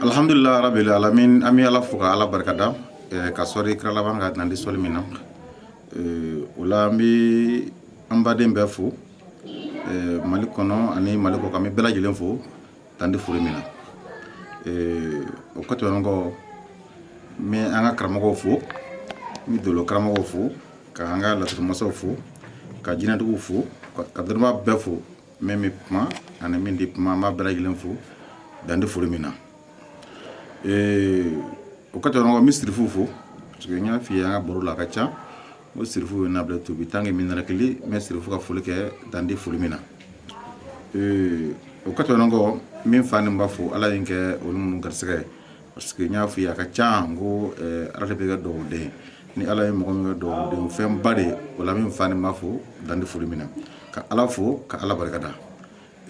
alhamdulillah rabbil alamin an bɛ ala fo ka ala barika da ka sɔli kira laban kan dan tɛ sɔli min na o la an bɛ an baden bɛɛ fo mali kɔnɔ ani mali kɔkan n bɛ bɛɛ lajɛlen fo dan tɛ foli min na o kɔ tɛmɛnen kɔ n bɛ an ka karamɔgɔw fo n bɛ dolo karamɔgɔw fo ka an ka laturumasaw fo ka jinɛtigiw fo ka dɔnnibaa bɛɛ fo min bɛ kuma ani min tɛ kuma an b'a bɛɛ lajɛlen fo dan tɛ foli min na o ka tɛmɛ n bɛ sirifu fo parce que n y'a f'i ye an ka baro la a ka ca n ko sirifu bɛ na bila tobi tan kɛ minɛn kelen n bɛ sirifu ka foli kɛ dan tɛ foli min na o ka tɛmɛ kɔ n bɛ n fa ni n ba fo ala ye n kɛ olu minnu garisɛgɛ ye parce que n y'a fɔ i ye a ka ca n ko eh, ala de bɛ kɛ dɔ den ye ni ala ye mɔgɔ min kɛ dɔ den fɛnba de ye o la n bɛ n fa ni n ba fo dan tɛ foli min na ka ala fo ka ala barika da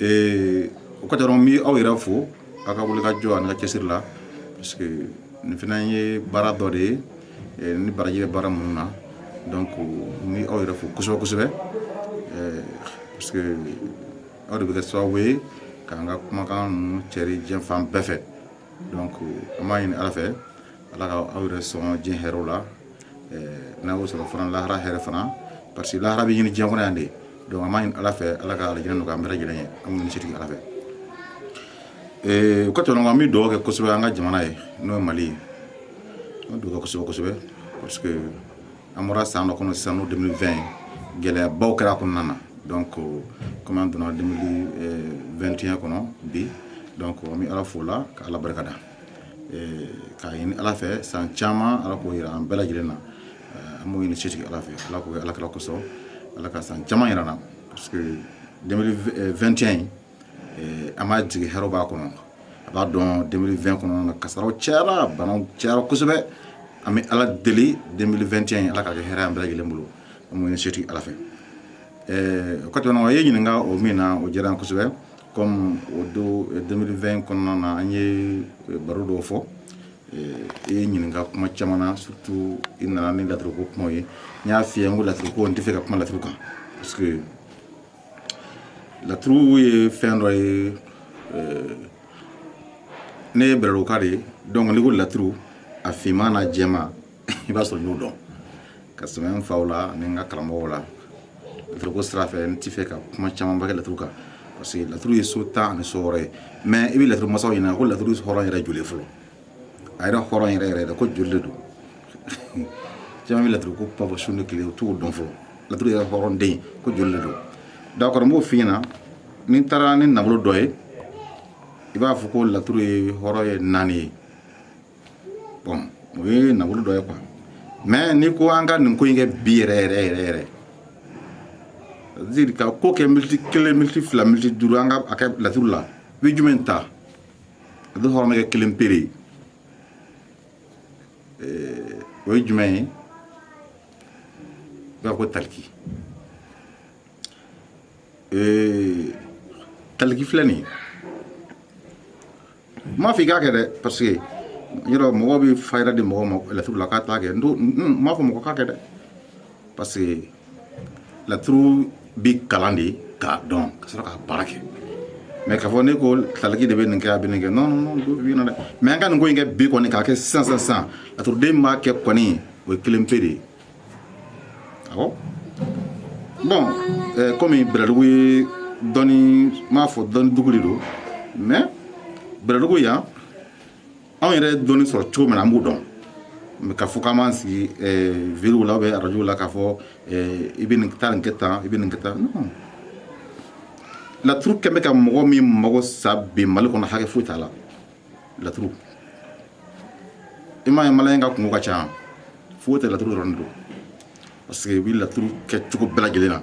eh, o ka tɛmɛ kɔ n bɛ aw yɛrɛ fo aw ka wulikajɔ ani ka cɛsiri la parce que nin fana ye baara dɔ de ye eh, ni baraji bɛ baara minnu na donc n bɛ aw yɛrɛ fo kosɛbɛ kosɛbɛ parce que aw de bɛ kɛ sababu ye k'an ka kumakan ninnu cɛri diɲɛ fan bɛɛ fɛ donc an b'a ɲini ala fɛ ala ka aw yɛrɛ sɔn diɲɛ hɛrɛw la n'a y'o sɔrɔ fana lahara hɛrɛ fana parce que lahara bɛ ɲini diɲɛ kɔnɔ yan de donc an b'a ɲini ala fɛ ala ka alijinɛ nɔgɔya an bɛɛ lajɛlen ye an b'o ɲini setigi ala fɛ o ka tɛmɛ an bɛ dugawu kɛ kosɛbɛ an ka jamana ye n'o ye mali ye an bɛ dugawu kɛ kosɛbɛ kosɛbɛ parce que an bɔra san dɔ kɔnɔ sisan n'o 2020 gɛlɛyabaw kɛra kɔnɔna na donc comme an donna 2021 kɔnɔ bi donc an bɛ ala fo o la ka ala barika da k'a ɲini ala fɛ san caman ala k'o yira an bɛɛ lajɛlen na an b'o ɲini setigi ala fɛ ala k'o kɛ ala kira kosɔn ala ka san caman yira an na parce que 2021 in an b'a jigi hɛrɛ b'a kɔnɔ a b'a dɔn 2020 kɔnɔna kasaara cayara bana cayara kosɛbɛ an bɛ ala deli 2021 ala ka kɛ hɛrɛ an bɛɛ lajɛlen bolo an b'o ɲini setigi ala fɛ o ka tɛmɛ i ye ɲininka o min na o diyara kosɛbɛ kɔmi 2020 kɔnɔna na an ye baro dɔw fɔ i ye n ɲininka kuma caman na surtout i nana ni laturiko kuma ye n y'a f'i ye n ko laturiko n tɛ fɛ ka kuma laturu kan parce laturu ye fɛn dɔ ye eh, ne ye bɛlɛduguka de ye donc n'i ko laturu a finman na jɛma i b'a sɔrɔ n y'o dɔn kosɛbɛ n faw la ni n ka karamɔgɔw la laturiko sira fɛ n tɛ fɛ ka kuma camanba kɛ laturu kan parce que laturu ye so tan ani so wɔɔrɔ ye mais i bɛ laturu masaw ɲininka ko laturu hɔrɔn yɛrɛ joli fɔlɔ a yɛrɛ hɔrɔn yɛrɛ yɛrɛ de ko joli de don caman bɛ laturu ko papa su ni tile u t'o dɔn fɔlɔ laturu yɛrɛ hɔrɔn den ko joli de don d'accord n b'o f'i ɲɛna ni n taara ni nafolo dɔ ye i b'a fɔ ko laturu hɔrɔn ye naani ye bon o ye nafolo dɔ ye quoi mais n'i ko an ka nin ko in kɛ bi yɛrɛ yɛrɛ yɛrɛ yɛrɛ ziri ka ko kɛ militi kelen militi fila militi duuru an ka a kɛ laturu la i bɛ jumɛn ta dun hɔrɔn bɛ kɛ kelen pe de o ye jumɛn ye b'a ko taliki taliki filɛ nin ye n m'a fɔ i k'a kɛ dɛ parce que yɔrɔ mɔgɔ bɛ fayida di mɔgɔ ma laturu la k'a t'a kɛ n m'a fɔ mɔgɔ k'a kɛ dɛ parce que laturu bɛ kalan de k'a dɔn ka sɔrɔ k'a baara kɛ mais k'a fɔ ne ko taliki de bɛ nin kɛ a bɛ nin kɛ non non non bi na dɛ mais an ka nin ko in kɛ bi kɔni k'a kɛ sisan sisan sisan laturuden min b'a kɛ kɔni o ye kelen pe de ye awɔ bon ɛɛ comme bɛlɛdugu ye dɔnni n b'a fɔ dɔnni dugu de don mais bɛlɛdugu yan anw yɛrɛ dɔnni sɔrɔ cogo min na an b'o dɔn k'a fɔ k'an b'an sigi vidéo la bɛ arajow la k'a fɔ i bɛ nin taa nin kɛ tan i bɛ nin kɛ tan laturu kɛ bɛ ka mɔgɔ min mago sa bi mali kɔnɔ hakɛ foyi t'a la laturu i m'a ye maliyɛn ka kunko ka ca foyi tɛ laturu dɔrɔn de don parce que i bɛ laturu kɛ cogo bɛɛ lajɛlen na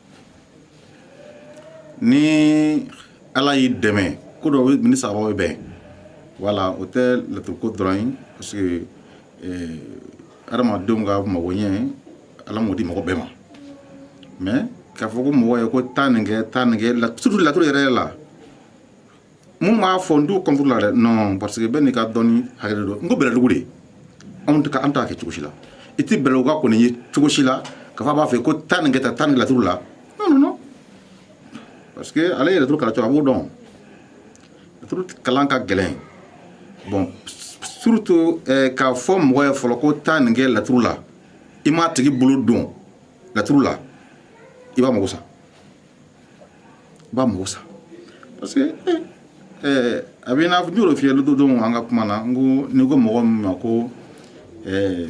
ni ala y'i dɛmɛ ko dɔ bɛ ni sababu bɛn voilà o tɛ laturu ko dɔrɔn ye parce que adamadenw ka mago ɲɛ ala m'o di mɔgɔ bɛɛ ma mais k'a fɔ ko mɔgɔ ye ko taa nin kɛ taa nin kɛ surtout laturu yɛrɛ la minnu b'a fɔ n t'u contre la dɛ non parce que bɛɛ n'i ka dɔnni hakɛ de don n ko bɛlɛdugu de anw tɛ an t'a kɛ cogo si la i tɛ bɛlɛduguka kɔni ye cogo si la k'a fɔ a b'a fɛ ko taa nin kɛ tan taa nin laturu la non non non parce que ale ye laturu kalan cogo a b'o dɔn laturu kalan ka gɛlɛn bon surtout eh, k'a fɔ mɔgɔ ye fɔlɔ ko taa nin kɛ laturu la i m'a tigi bolo don laturu la i b'a mago sa i b'a mago sa parce que eh, a b'i n'a fɔ n y'o f'i ye don dɔ an ka kuma na n ko n'i ko mɔgɔ min ma ko eh,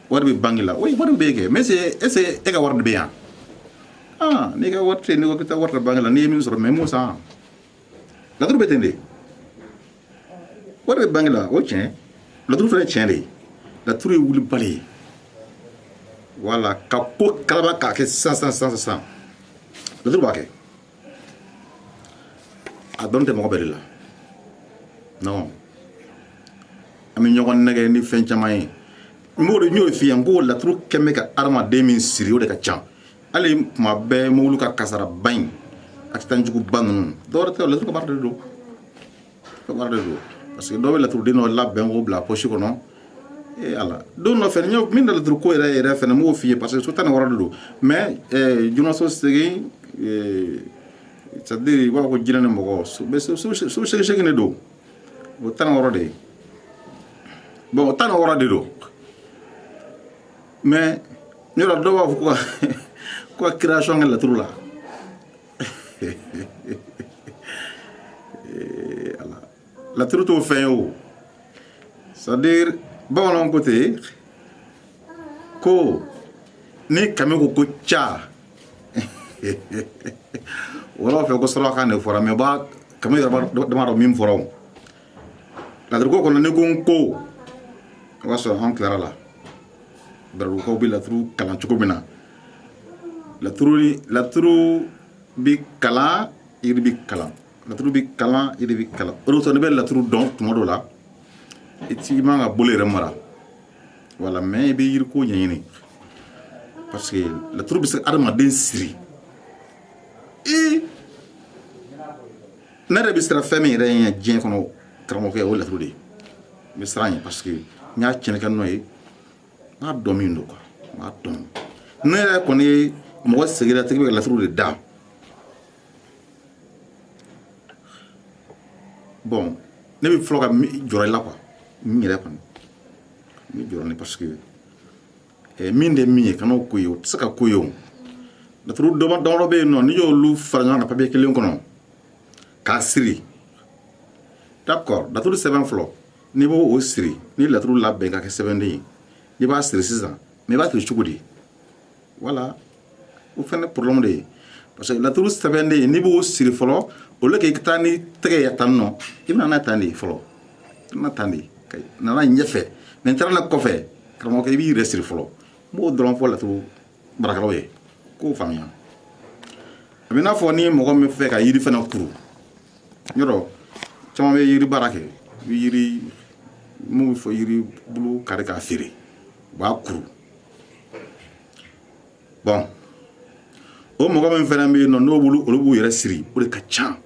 wari bɛ banki la oui wari bɛ kɛ mais est ce que e ka wari de bɛ yan ah n'i ka wari tɛ yen n'i ko k'i taa wari ta banki la n'i ye min sɔrɔ mais i mago sa laturu bɛ ten de wari bɛ banque la o tiɲɛ laturu fana ye tiɲɛ de ye laturu ye wulibali ye voilà ka ko kalaba k'a kɛ sisan sisan sisan sisan laturu b'a kɛ a dɔnni tɛ mɔgɔ bɛɛ de la non an bɛ ɲɔgɔn nɛgɛn ni fɛn caman ye n b'o de n y'o f'i ye n ko laturu kɛ bɛ ka hadamaden min siri o de ka ca hali kuma bɛɛ mobili ka kasaraba in accident juguba ninnu dɔwɛrɛ tɛ laturu ka baara de don ka baara de don parce que dɔw bɛ laturuden dɔ labɛn k'o bila poche kɔnɔ ee ala don dɔ fɛnɛ min na laturu ko yɛrɛ yɛrɛ fɛnɛ n b'o f'i ye parce que so tan ni wɔɔrɔ de don mais jinɛso segin c'est à dire i b'a fɔ ko jinɛ ni mɔgɔ so segin segin de don o tan ni wɔɔrɔ de ye bon o tan ni wɔɔrɔ de don mais ne yɔrɔ dɔw b'a fɔ ko ko ka création kɛ laturu la voilà laturu t'o fɛn ye o c'est à dire bamananw ko ten ko ni kami ko ko ca wɔlɔw fɛ ko sɔrɔkan de fɔra mais ba kami yɛrɛ dama dɔn min fɔra o laturuko kɔnɔ ne ko n ko o y'a sɔrɔ an tilara la bɛlɛdugukaw bɛ laturu kalan cogo min na laturu laturu bɛ kalan yiri bɛ kalan laturu bɛ kalan yiri bɛ kalan o de kosɔn ne bɛ laturu dɔn tuma dɔ la i ti i man ka bolo yɛrɛ mara voilà mais i bɛ yiriko ɲɛɲini parce que laturu bɛ se ka adamaden siri i ne yɛrɛ bɛ siran fɛn min yɛrɛ ɲɛ diɲɛ kɔnɔ karamɔgɔkɛ o ye laturu de ye n bɛ siran ɲɛ parce que n y'a tiɲɛni kɛ n'o ye n b'a dɔn min don quoi n b'a dɔn ne yɛrɛ kɔni ye mɔgɔ segira tigi bɛ ka laturu de da bon ne bɛ fɔlɔ ka jɔrɔ i la quoi n yɛrɛ kɔni n bɛ jɔrɔ ni parce que min de min ye kana ko ye o tɛ se ka ko ye o laturu damadɔ bɛ yen nɔ n'i y'olu fara ɲɔgɔn kan papiye kelen kɔnɔ k'a siri d'accord laturu sɛbɛn fɔlɔ n'i b'o siri ni laturu labɛn ka kɛ sɛbɛnden ye n'i b'a siri sisan mais i b'a siri cogo di voilà o fana problème de ye parce que laturu sɛbɛnden n'i b'o siri fɔlɔ au lieu k'i taa ni tɛgɛ ye tan nɔ i bɛna n'a tan de ye fɔlɔ i bɛna tan de ye ka na n'a ɲɛfɛ mais n taara n'a kɔfɛ karamɔgɔkɛ i b'i yɛrɛ siri fɔlɔ n b'o dɔrɔn fɔ laturu baarakɛlaw ye k'o faamuya a bɛ n'a fɔ ni mɔgɔ min fɛ ka yiri fana kuru yɔrɔ caman bɛ yiri baara kɛ i bɛ yiri mun bɛ fɔ yiri bulu kari k'a feere u b'a kuru bɔn o mɔgɔ min fana bɛ yen nɔ n'o bolo olu b'u yɛrɛ siri o de ka ca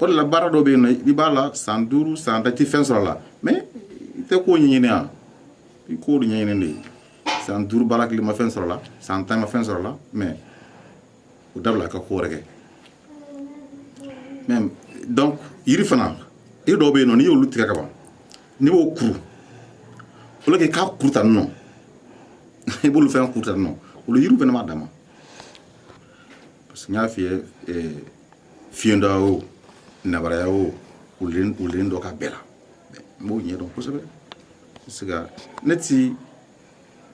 o de la baara dɔ bɛ yen nɔ i b'a la san duuru san tan i tɛ fɛn sɔrɔ a la mais i tɛ k'o ɲɛɲini yan i k'o de ɲɛɲini de san duuru baara kelen ma fɛn sɔrɔ a la san tan ma fɛn sɔrɔ a la mais o dabila ka ko wɛrɛ kɛ mais donc yiri fana yiri dɔw bɛ yen nɔ n'i y'olu tigɛ ka ban n'i b'o kuru au lieu que k'a kuru tan nɔ i b'olu fɛn kuru tan nɔ olu yiriw fɛnɛ b'a dama parce que n y'a f'i ye eh, fiɲɛda o nabaraya o wulilen dɔ ka bɛɛ la n b'o ɲɛ dɔn kosɛbɛ parce que ne ti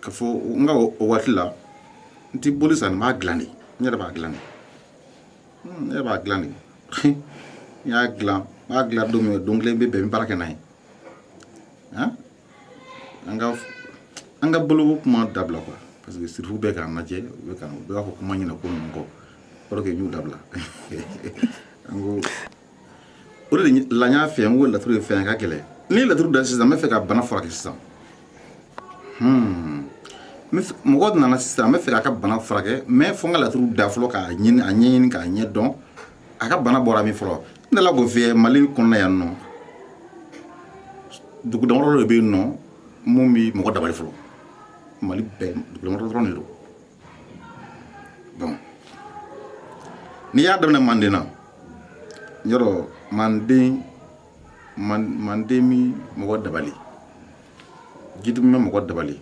ka fɔ n ka o waati la n ti boli san n b'a dilan de n yɛrɛ b'a dilan de ne b'a dilan de n y'a dilan n b'a dilan don min don kelen bɛ bɛn n bɛ baara kɛ n'a ye an ka an ka bluff kuma dabila quoi parce que surtout u bɛ k'an lajɛ u bɛ ka u b'a fɔ kuma ɲɛna ko ninnu kɔ alors que n y'u dabila an ko o de la n y'a f'i ye n ko laturu ye fɛn ye ka gɛlɛn ni laturu da sisan n bɛ fɛ ka bana furakɛ sisan hmm. mɔgɔ nana sisan n bɛ fɛ k'a ka bana furakɛ mais fo n ka laturu da fɔlɔ k'a ɲini a ɲɛɲini k'a ɲɛ dɔn a ka bana bɔra min fɔlɔ n dala k'o f'i ye mali kɔnɔna yan nɔ dugu damadɔ de bɛ yen nɔ mun bɛ mɔgɔ dabali fɔlɔ mali bɛɛ dugu damadɔ dɔrɔn de don bon n'i y'a daminɛ manden na yɔrɔ manden manden mi mɔgɔ dabali jitumu bɛ mɔgɔ dabali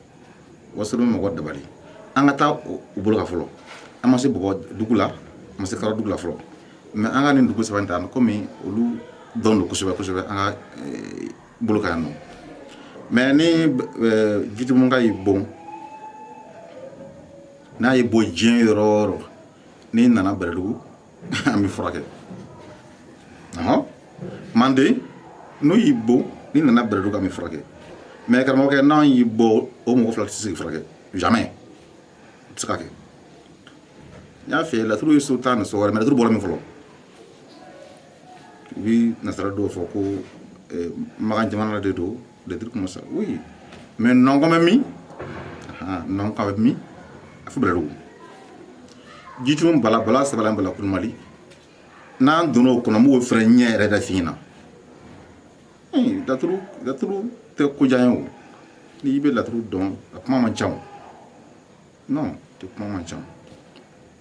wasolon bɛ mɔgɔ dabali an ka taa u bolo ka fɔlɔ an ma se bɔgɔ dugu la an ma se karadugu la fɔlɔ mais an ka nin dugu saba in ta kɔmi olu dɔn don kosɛbɛ kosɛbɛ an ka eh, bolo ka yan nɔ mais ni jitumuka y'i bon n'a y'i bon diɲɛ yɔrɔ o yɔrɔ n'i nana bɛrɛdugu an b'i furakɛ manden n'o y'i bon n'i nana bɛrɛdugu an b'i furakɛ mais karamɔgɔkɛ n'an y'i bon o mɔgɔ fila tɛ se k'i furakɛ jamais tɛ se ka kɛ n y'a f'i ye laturu ye so tan ni so wɔɔrɔ mais laturu bɔra min fɔlɔ u bi nasara dɔw fɔ ko eh, makan jamana de don des trucs comme ça oui mais nɔnkɔn bɛ min nɔnkɔn bɛ min a fɔ bɛlɛdugu jitumu bala bala sabali bala kulumali n'an donna o kɔnɔ n b'o fɛnɛ ɲɛ yɛrɛ da f'i ɲɛna laturu laturu tɛ ko jan ye o n'i bɛ laturu dɔn a kuma man ca o non tɛ kuma man ca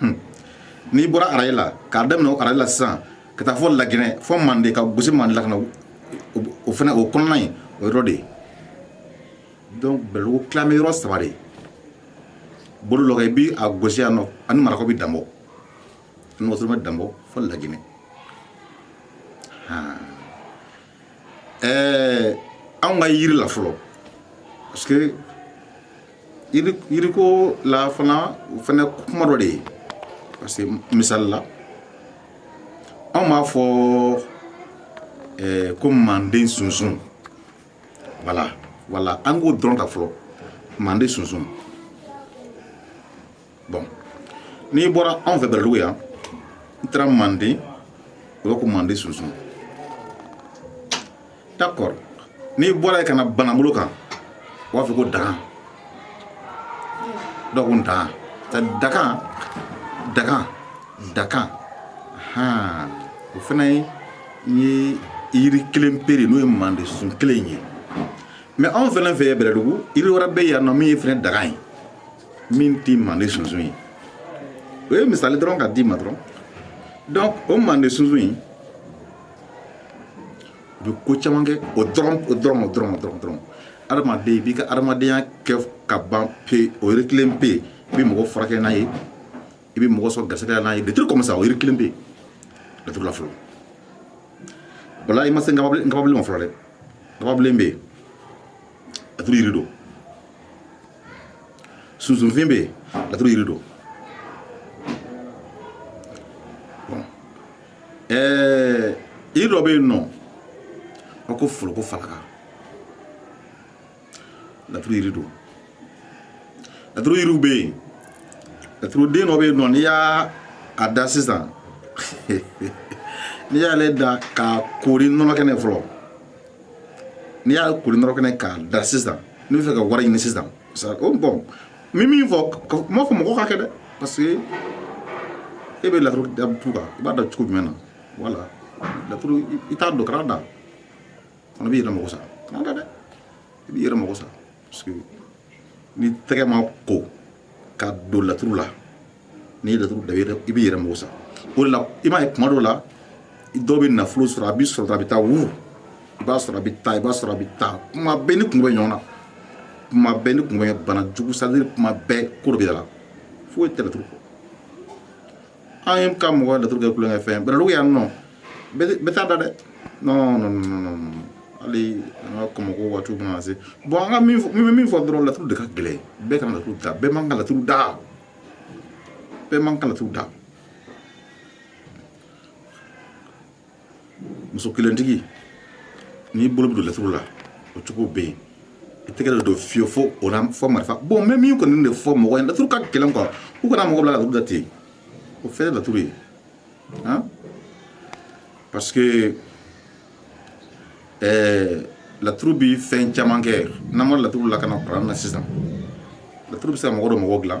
hmm. n'i bɔra arayi la k'a daminɛ o arayi la sisan ka taa fɔ laginɛ fɔ manden ka gosi manden la ka na o fana o kɔnɔna ye o yɔrɔ de ye donc bɛlɛdugu tilamɛ yɔrɔ saba de ye bolo dɔ kan i bi a gosi yan nɔ ani marakaw bi danbɔ ani wasolo bɛ danbɔ fɔ laginɛ han ɛɛ anw ka yiri la fɔlɔ parce que yiri yiriko la fana o fana kuma dɔ de ye parce que misali la anw b'a fɔ ɛɛ ko manden sunsun voilà voilà an k'o dɔrɔn ta fɔlɔ manden sunsun bon n'i bɔra anw fɛ bɛlɛdugu yan n taara manden o bɛ ko manden sunsun d'accord n'i bɔra yen ka na banabolo kan u b'a fɔ ko dagan dɔw ko dagan dagan dagan dagan han o fana ye yiri kelen pere n'o ye manden sun kelen ye mais anw fana fɛ bɛlɛdugu yiri wɛrɛ bɛ yan nɔ min ye fana dagan ye min tɛ manden sunsun ye o ye misali dɔrɔn ka d'i ma dɔrɔn donc o manden sunsun in u bɛ ko caman kɛ o dɔrɔn o dɔrɔn o dɔrɔn o dɔrɔn dɔrɔn adamaden i b'i ka adamadenya kɛ ka ban pe o yiri kelen pe i bɛ mɔgɔ furakɛ n'a ye i bɛ mɔgɔ sɔrɔ garisɛgɛ la n'a ye les trucs comme ça o yiri kelen bɛ yen laturu la fɔlɔ voilà i ma se nkababilen nkababilen ma fɔlɔ dɛ nkababilen bɛ yen laturu yiri don sunsunfin bɛ yen laturu yiri don ɛɛ yiri dɔ bɛ yen nɔ a ko foroko falaka laturu yiri don laturu yiriw bɛ yen laturu den dɔ bɛ yen nɔ n'i y'a a da sisan n'i y'ale da k'a koori nɔnɔ kɛnɛ fɔlɔ n'i y'a koori nɔnɔ kɛnɛ k'a da sisan n'i bɛ fɛ ka wari ɲini sisan o bon n bɛ min fɔ n m'a fɔ mɔgɔ k'a kɛ dɛ parce que e bɛ laturu da tu kan i b'a da cogo jumɛn na voilà laturu i t'a dɔn kan'a da fana b'i yɛrɛ mako sa kan'a da dɛ i b'i yɛrɛ mako sa ni tɛgɛ ma ko ka don laturu la n'i ye laturu da i b'i yɛrɛ mako sa o de la i m'a ye kuma dɔw la dɔw bɛ nafolo sɔrɔ a bɛ sɔrɔ a bɛ taa wu i b'a sɔrɔ a bɛ taa i b'a sɔrɔ a bɛ taa kuma bɛɛ ni kun bɛ ɲɔgɔn na kuma bɛɛ ni kun bɛ bana jugu c'est-à-dire kuma bɛɛ ko dɔ bɛ yɛlɛ foyi tɛ laturu kɔ an ye ka mɔgɔ laturu kɛ tulonkɛ fɛn bɛlɛdugu yan nɔ bɛɛ t'a da dɛ non non non non hali an ka kɔmɔko waati mana se bɔn an ka min fɔ min min fɔ dɔrɔn laturu de ka gɛlɛn bɛɛ ka laturu da bɛɛ man ka laturu da bɛɛ man ka laturu da muso kelentigi n'i bolo bɛ don laturu la o cogo bɛ yen i tɛgɛ dɔ don fiye fo o la fɔ marifa bon n bɛ min kɔni de fɔ mɔgɔ ye laturu ka gɛlɛn quoi u kana mɔgɔ bila laturu da ten o fɛn ye laturu ye han parce que ɛɛ laturu bi fɛn caman kɛ n'an ma laturu lakana kuran na sisan laturu bɛ se ka mɔgɔ dɔ mɔgɔ dilan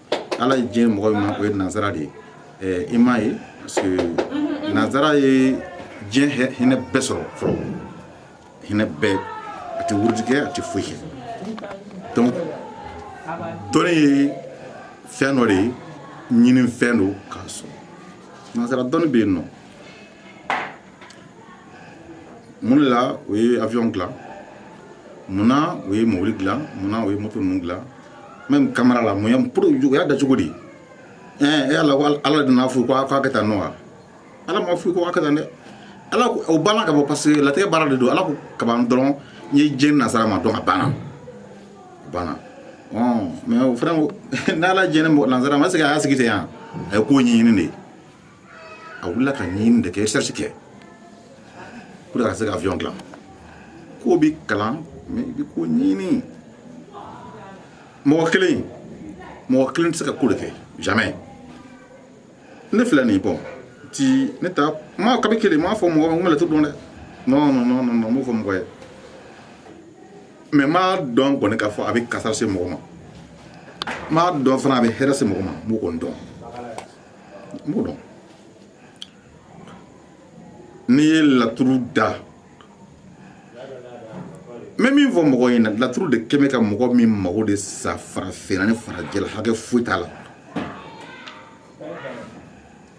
ala ye diɲɛ mɔgɔ min ma o ye nansara de ye ɛɛ i m'a ye parce que nansara ye diɲɛ hɛ- hinɛ bɛɛ sɔrɔ fɔlɔ hinɛ bɛɛ a tɛ wurudi kɛ a tɛ foyi kɛ donc dɔnni ye fɛn dɔ de ye ɲini fɛn don k'a sɔrɔ nansara dɔnni bɛ yen nɔ mun de la o ye avion dilan munna o ye mobili dilan munna o ye moto ninnu dilan même kamera la mun pour o y'a da cogo di ɛɛ e ala ko ala de nana f'u ko a k'a kɛ tan nɔ wa ala ma f'u ko a kɛ tan dɛ ala o banna ka bɔ parce que latigɛ baara de don ala ko kaban dɔrɔn n ye diɲɛ nasara ma dɔrɔn a banna a banna ɔn mɛ o fana ko n'ala diɲɛ ne mɔgɔ nasara ma se ka a y'a sigi ten yan a ye ko ɲɛɲini de ye a wulila ka ɲini de kɛ recherche kɛ pour que a ka se ka avion dilan ko bi kalan mais i bi ko ɲini mɔgɔ kelen mɔgɔ kelen tɛ se ka ko de kɛ jamais ne filɛ nin bɔn ti ne ta ma kabi kelen n m'a fɔ mɔgɔ ma n bɛ laturu dɔn dɛ non non non non n m'o fɔ mɔgɔ ye mɛ n b'a dɔn kɔni k'a fɔ a bɛ kasaara se mɔgɔ ma n b'a dɔn fana a bɛ hɛrɛ se mɔgɔ ma n b'o kɔni dɔn n b'o dɔn n'i ye laturu da n bɛ min fɔ mɔgɔ ɲɛna laturu de kɛmɛ ka mɔgɔ min mago de sa farafinna ni farajɛla hakɛ foyi t'a la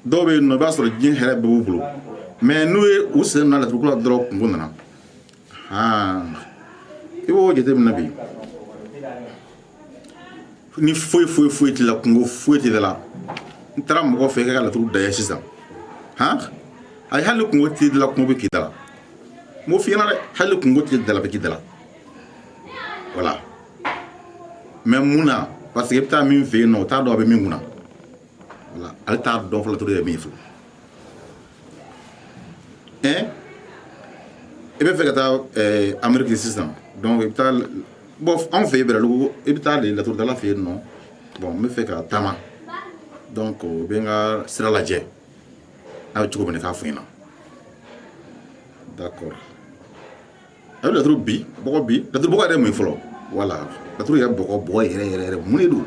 dɔw bɛ yen nɔ i b'a sɔrɔ diɲɛ hɛrɛ bɛɛ b'u bolo mɛ n'u ye u sen na laturuko la dɔrɔn kunko nana Ah. I b'o jateminɛ bi ni foyi foyi foyi t'i la kunko foyi t'i la n'i taara mɔgɔ fɛ k'a ka laturu da i ye sisan han ayi hali kunko t'i la kunko bɛ k'i da la n b'o f'i ɲɛna dɛ hali kunko t'i da la bɛ k'i da la voilà mɛ mun na parce que i bɛ taa min fɛ yen nɔ o t'a dɔn a bɛ min kunna voilà ale t'a dɔn fo laturu ye min fɔ eh i bɛ fɛ ka taa eh, ameriki sisan donc i bɛ taa bon anw fɛ yen bɛlɛdugu i bɛ taa de laturudala fɛ yen nɔ bon n bɛ fɛ ka taama donc i bɛ n ka sira lajɛ n'a bɛ cogo min na k'a fɔ n ɲɛna d'accord a bɛ laturu bi bɔgɔ bi laturu bɔgɔ yɛrɛ mun ye fɔlɔ voilà laturu yɛrɛ bɔgɔ bɔgɔ yɛrɛ yɛrɛ yɛrɛ mun de don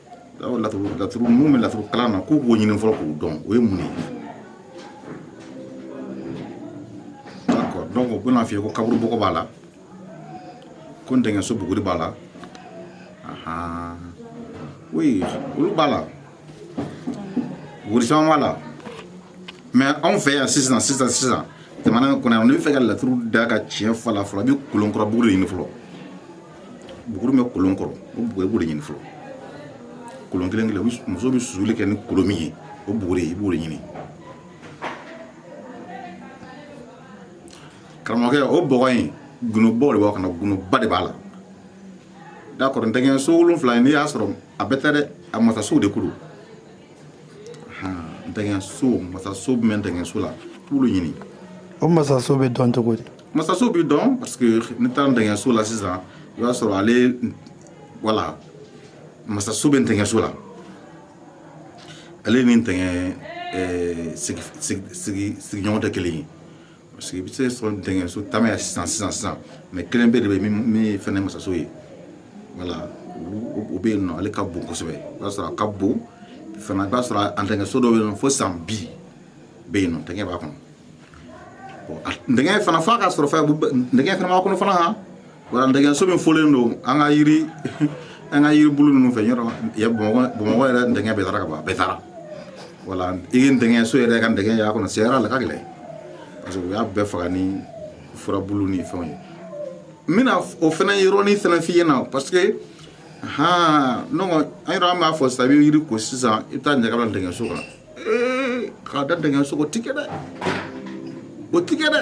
laturu laturu mun bɛ laturu kalan na k'u b'o ɲini fɔlɔ k'u dɔn o ye mun ye donc u bɛna f'i ye ko kaburu bɔgɔ b'a la ko dɛngɛso buguri b'a la oui olu b'a la buguri caman b'a la mais anw fɛ yan sisan sisan sisan jamana in kɔnɔ yan n'i bɛ fɛ ka laturu da ka tiɲɛ f'a la fɔlɔ i bɛ kolon kɔrɔ buguri de ɲini fɔlɔ buguri bɛ kolon kɔrɔ o buguri i b'o de ɲini fɔlɔ kolon kelen kelen muso bɛ susuli kɛ ni kolon min ye o buguri i b'o de ɲini karamɔgɔkɛ o bɔgɔ in gundobaw de b'a kɔnɔ gundoba de b'a la d'accord dɛngɛso wolonfila in n'i y'a sɔrɔ a bɛɛ tɛ dɛ a masasow de ko don dɛngɛso masaso bɛ dɛngɛso la k'olu ɲini o masaso bɛ dɔn cogo di masaso bɛ dɔn parce que n'i taara dɛngɛso la sisan i b'a sɔrɔ ale voilà masaso bɛ dɛngɛso la ale ni dɛngɛ sigiɲɔgɔn tɛ kelen ye parce que i bɛ se sɔrɔ dɛngɛso caman yan sisan sisan sisan mais kelen pe de bɛ min fɛnɛ masaso ye voilà o bɛ yen nɔ ale ka bon kosɛbɛ i b'a sɔrɔ a ka bon fana i b'a sɔrɔ a dɛngɛso dɔ bɛ yen nɔ fo san bi bɛ yen nɔ dɛngɛ b'a kɔnɔ dɛngɛ fana f'a ka sɔrɔ fana dɛngɛ fana b'a kɔnɔ fana Voilà dɛngɛso min fɔlen don an ka yiri an ka yiri bolo ninnu fɛ bamakɔ yɛrɛ dɛngɛ bɛɛ taara ka ban a bɛɛ taara voilà i ye dɛngɛso yɛrɛ ka dɛngɛ y'a kɔnɔ se la ka gɛlɛn parce que u y'a bɛɛ faga ni furabu ni fɛnw ye n bɛna o fana yɔrɔnin fana f'i ɲɛna parce que h an yɛrɛ an b'a fɔ sa i bɛ yiri ko sisan i bɛ taa ɲaga dɛngɛso kan k'a da dɛngɛso o tɛ kɛ dɛ o tɛ kɛ dɛ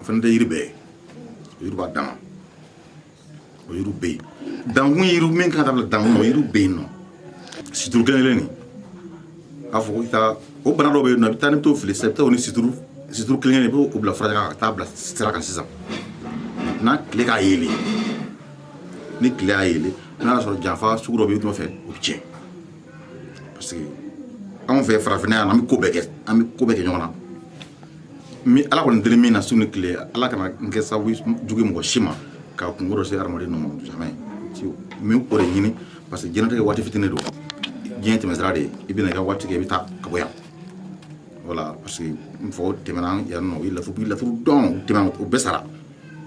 o fana tɛ yiri bɛɛ ye yiri b'a dama o yiriw bɛ yen dankun yiriw min kan ka bila dankun o yiriw bɛ yen nɔ situru kelen kelen nin a fɔ ko i ka o bana dɔw bɛ yen nɔ i bɛ taa ni t'o fili sisan i bɛ taa o ni situru situru kelen kelen i b'o bila fura kan ka taa bila sira kan sisan n'a tile k'a yeelen ni tile y'a yeelen n'a y'a sɔrɔ janfa sugu dɔ bɛ i nɔfɛ o bɛ tiɲɛ parce que anw fɛ farafinna yan an bɛ ko bɛɛ kɛ an bɛ ko bɛɛ kɛ ɲɔgɔn na n bɛ ala kɔni deli min na su ni tile ala kana n kɛ sababu jugu mɔgɔ si ma ka kunko dɔ se hadamaden nɔ ma jamais n bɛ o de ɲini parce que diɲɛlatigɛ waati fitinin don diɲɛ tɛmɛsira de ye i bɛna i ka waati kɛ i bɛ taa ka bɔ yan voilà parce que n faw tɛmɛna yan nɔ u ye laturu u ye laturu dɔn u tɛmɛna u bɛɛ sara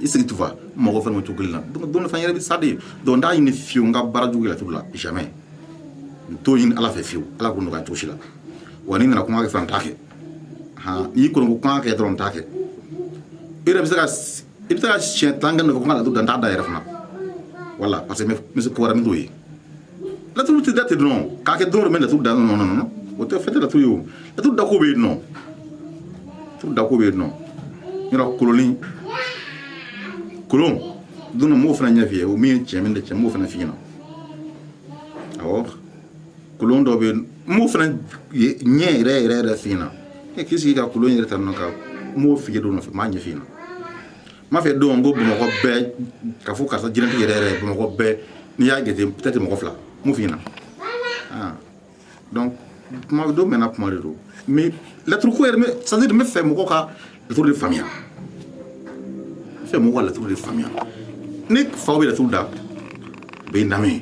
i sigi tufa mɔgɔ fana to kelen na don dɔ fana yɛrɛ bɛ sa de donc n t'a ɲini fiyewu n ka baara jugu kɛ laturu la jamais n t'o ɲini ala fɛ fiyewu ala k'o nɔgɔya cogo si la wa n'i nana kuma kɛ fana n t'a kɛ han n'i kɔni ko kuma kɛ dɔrɔn n t'a kɛ i yɛrɛ bɛ se ka i bɛ se ka siɲɛ tan kɛ nɔfɛ ko n ka laturu da n t'a da yɛrɛ fana voilà parce que n bɛ se ko wɛrɛ min t'o ye laturu tɛ da ten dɔrɔn k'a kɛ don dɔ n bɛ laturu da non non o tɛ fɛn tɛ laturu ye o laturu dako bɛ yen nɔ laturu dako bɛ yen nɔ yɔrɔ kolonnin kolon don n b'o fana ɲɛ f'i ye o min ye tiɲɛ min tɛ tiɲɛ n b'o fana f'i ɲɛna awɔ kolon dɔ bɛ yen n b'o fana ɲɛ yɛrɛ yɛrɛ yɛrɛ f'i ɲɛna e k'i sigi ka kolon yɛrɛ ta nɔ ka n b'o f'i ye don nɔfɛ n b'a ɲɛ f'i ɲɛna N m'a fɛ don n ko bamakɔ bɛɛ k'a fɔ karisa jinɛtigi yɛrɛ yɛrɛ bamakɔ bɛɛ n'i y'a jate peut-être mɔgɔ fila n b'o f'i ɲɛna donc kuma don mɛnna kuma de don mais laturuko yɛrɛ c'est à dire n b'a fɛ mɔgɔw ka laturu de faamuya n b'a fɛ mɔgɔw ka laturu de faamuya ni faw bɛ laturu da u bɛ n lamɛn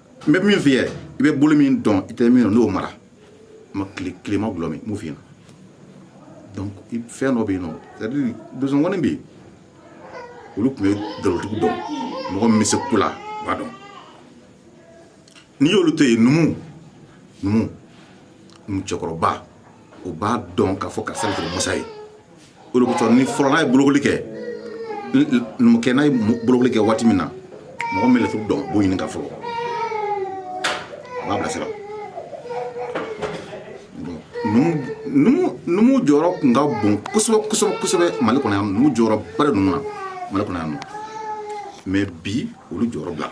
n bɛ min f'i ye i bɛ bolo min dɔn i tɛ min dɔn n'o mara ma tile tilema gulɔ min n b'o f'i ɲɛna donc fɛn dɔ bɛ yen nɔ c'est à dire donsow kɔni bɛ yen olu tun bɛ dalilutigiw dɔn mɔgɔ min bɛ se ko la u b'a dɔn n'i y'olu to yen numu numu numu cɛkɔrɔba o b'a dɔn k'a fɔ karisa de masa ye o de kosɔn ni fɔlɔ n'a ye bolokoli kɛ numukɛ n'a ye bolokoli kɛ waati min na mɔgɔ min bɛ laturu dɔn b'o ɲininka fɔlɔ a b'a bilasira numu jɔyɔrɔ tun ka bon kosɛbɛ kosɛbɛ kosɛbɛ mali kɔnɔ yan numu jɔyɔrɔ ba de ninnu na mali kɔnɔ yan nɔ mais bi olu jɔyɔrɔ bila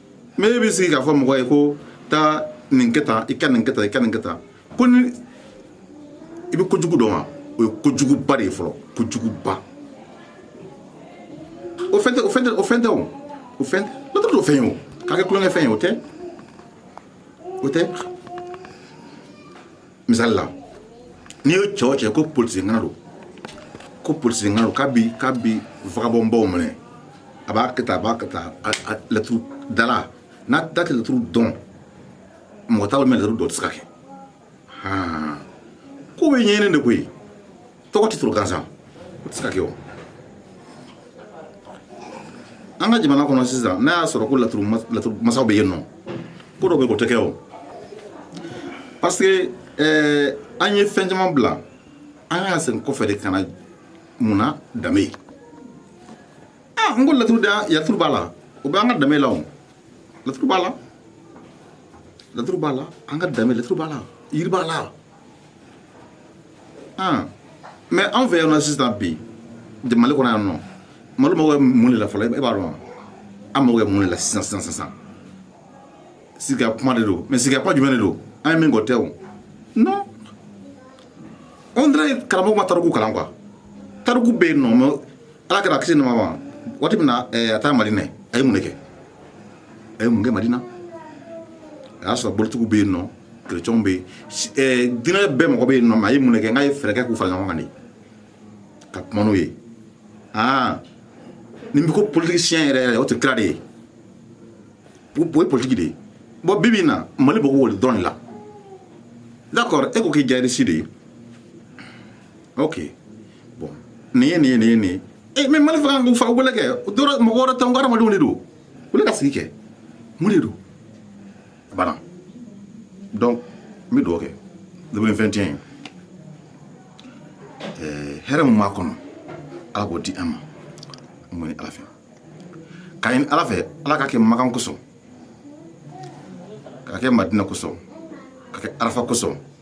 mais e bɛ sigi k'a fɔ mɔgɔ ye ko taa nin kɛ tan i ka nin kɛ tan i ka nin kɛ tan ko ni i bɛ kojugu dɔn wa o ye kojuguba de ye fɔlɔ kojuguba laturu t'o fɛn ye o k'a kɛ tulonkɛ fɛn ye o tɛ o tɛ misali la n'i ye cɛw cɛ ko polisi ŋana don ko polisi ŋana don k'a bi k'a bi vagabɔnbaw minɛ a b'a kɛ tan a b'a kɛ tan laturu dala n'a da tɛ laturu dɔn mɔgɔ t'a dɔn mais laturu dɔ tɛ se ka kɛ ko bɛ ɲɛɲini de koyi Tɔgɔ titre gansan o tɛ se ka kɛ o an ka jamana kɔnɔ sisan n'a y'a sɔrɔ ko laturu laturu masaw bɛ yen nɔ ko dɔ bɛ o tɛ kɛ o parce que ɛɛ an ye fɛn caman bila an ka segin kɔfɛ de ka na mun na danbe ye aa n ko laturu da yaturu b'a la o bɛ an ka danbe la o laturu b'a la laturu b'a la an ka danbe laturu b'a la yiri b'a la mais anw fɛ yan nɔ sisan bi mali kɔnɔ yan nɔ mali mago bɛ mun de la fɔlɔ e b'a dɔn an mago bɛ mun de la sisan sisan sisan sigi ka kuma de don mais sigi ka kuma jumɛn de don an ye min kɔ tɛ o non on dirait karamɔgɔ ma tariku kalan quoi tariku bɛ yen nɔ ala kira kisi ni nɛɛma waati min na eh, a taara madina a ye mun de kɛ a ye mun kɛ madina a y'a sɔrɔ bolitigiw bɛ yen nɔ kerecɛnw bɛ yen eh, dinɛ bɛɛ mɔgɔ bɛ yen nɔ mais a ye mun de kɛ n k'a ye fɛɛrɛ kɛ k'u fara ɲɔgɔn kan de ka kuma n'o ye aa nin bɛ ko politicien yɛrɛ yɛrɛ o tɛ kira de ye o ye politiki de ye bon bi bi na mali bɛ k'o dɔrɔn de la d'accord e ko k'i jayirisi de ye ok bon nin ye nin ye nin ye nin ye ee eh, mais mali fan o fan wele kɛ dɔrɔn mɔgɔ wɛrɛ tɛ n ko adamadenw de don wele ka sigi kɛ mun de don a banna donc n bɛ dugawu kɛ deux mille vingt et un eh, hɛrɛ min b'a kɔnɔ ala k'o di an ma n b'o ɲini ala fɛ k'a ɲini ala fɛ ala k'a kɛ makan kosɔn k'a kɛ madina kosɔn k'a kɛ arafa kosɔn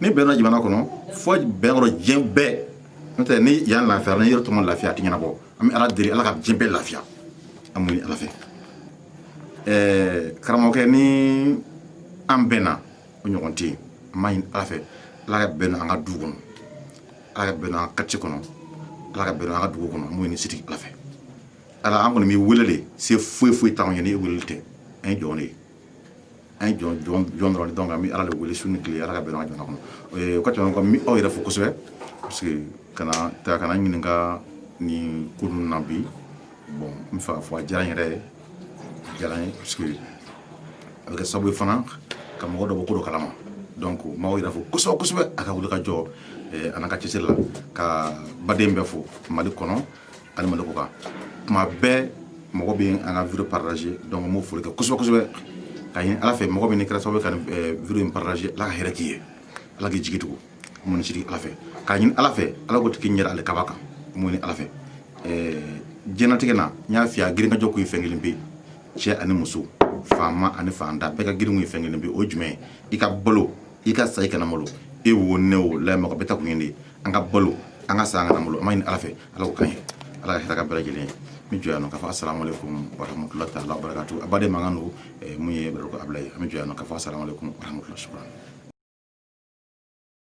ni bɛn don jamana kɔnɔ fo bɛn don diɲɛ bɛɛ n'o tɛ ni yan lafiyara ni yɔrɔ tɔ ma lafiya a tɛ ɲɛnabɔ an bɛ ala deli ala ka diɲɛ bɛɛ lafiya an b'o ɲini ala fɛ ɛɛ karamɔgɔkɛ ni an bɛnna o ɲɔgɔn tɛ yen an b'a ɲini ala fɛ ala ka bɛn don an ka du kɔnɔ ala ka bɛn don an ka quartier kɔnɔ ala ka bɛn don an ka dugu kɔnɔ an b'o ɲini sidi ala fɛ ala an kɔni b'i wele de se foyi foyi t'anw ye ni e wele tɛ an ye jɔn de ye an ye jɔn jɔn jɔn dɔrɔn de donc an bɛ ala de wele su ni tile ala ka bɛn don an ka jamana kɔnɔ o ka tɛmɛ kɔ n bɛ aw yɛrɛ fo kosɛbɛ parce que ka n'an ta ka n'an ɲininka nin ko ninnu na bi bon n b'a fɔ a diyara n yɛrɛ ye a diyara n ye parce que a bɛ kɛ sababu ye fana ka mɔgɔ dɔ bɔ ko dɔ kalama donc n b'aw yɛrɛ fo kosɛbɛ kosɛbɛ a ka wuli ka jɔ an'a ka cɛsiri la ka baden bɛɛ fo mali kɔnɔ ani mali kɔkan tuma bɛɛ mɔgɔ bɛ an ka vidéo partager donc n b'o foli kɛ kosɛbɛ kosɛbɛ k'a ɲini ala fɛ mɔgɔ bɛɛ min kɛra sababu ka vidéo in partager ala ka hɛrɛ k'i ye ala k'i jigi tugu mun sigi ala fɛ k'a ɲini ala fɛ ala k'o tigi ɲɛ da ale kaba kan n b'o ɲini ala fɛ diɲɛnatigɛ na n y'a f'i ye a girinkajɔ kun ye fɛn kelen pe ye cɛ ani muso faama ani faantan bɛɛ ka girin kun ye fɛn kelen pe ye o ye jumɛn ye i ka balo i ka sa i kana malo e wo ne wo layɛ mɔgɔ bɛɛ ta kun ye de an ka balo an ka sa an kana malo an b'a ɲini ala fɛ ala k'o k'an ye ala ka hɛrɛ k'an bɛɛ lajɛlen ye n bɛ jɔ yan nɔ k'a fɔ asalamualeykum warahmatulahi taala wabarakatu a baden mankan don min ye bɛrɛ ko abilaye an bɛ jɔ yan nɔ k'a fɔ asalamualeykum warahmatulahi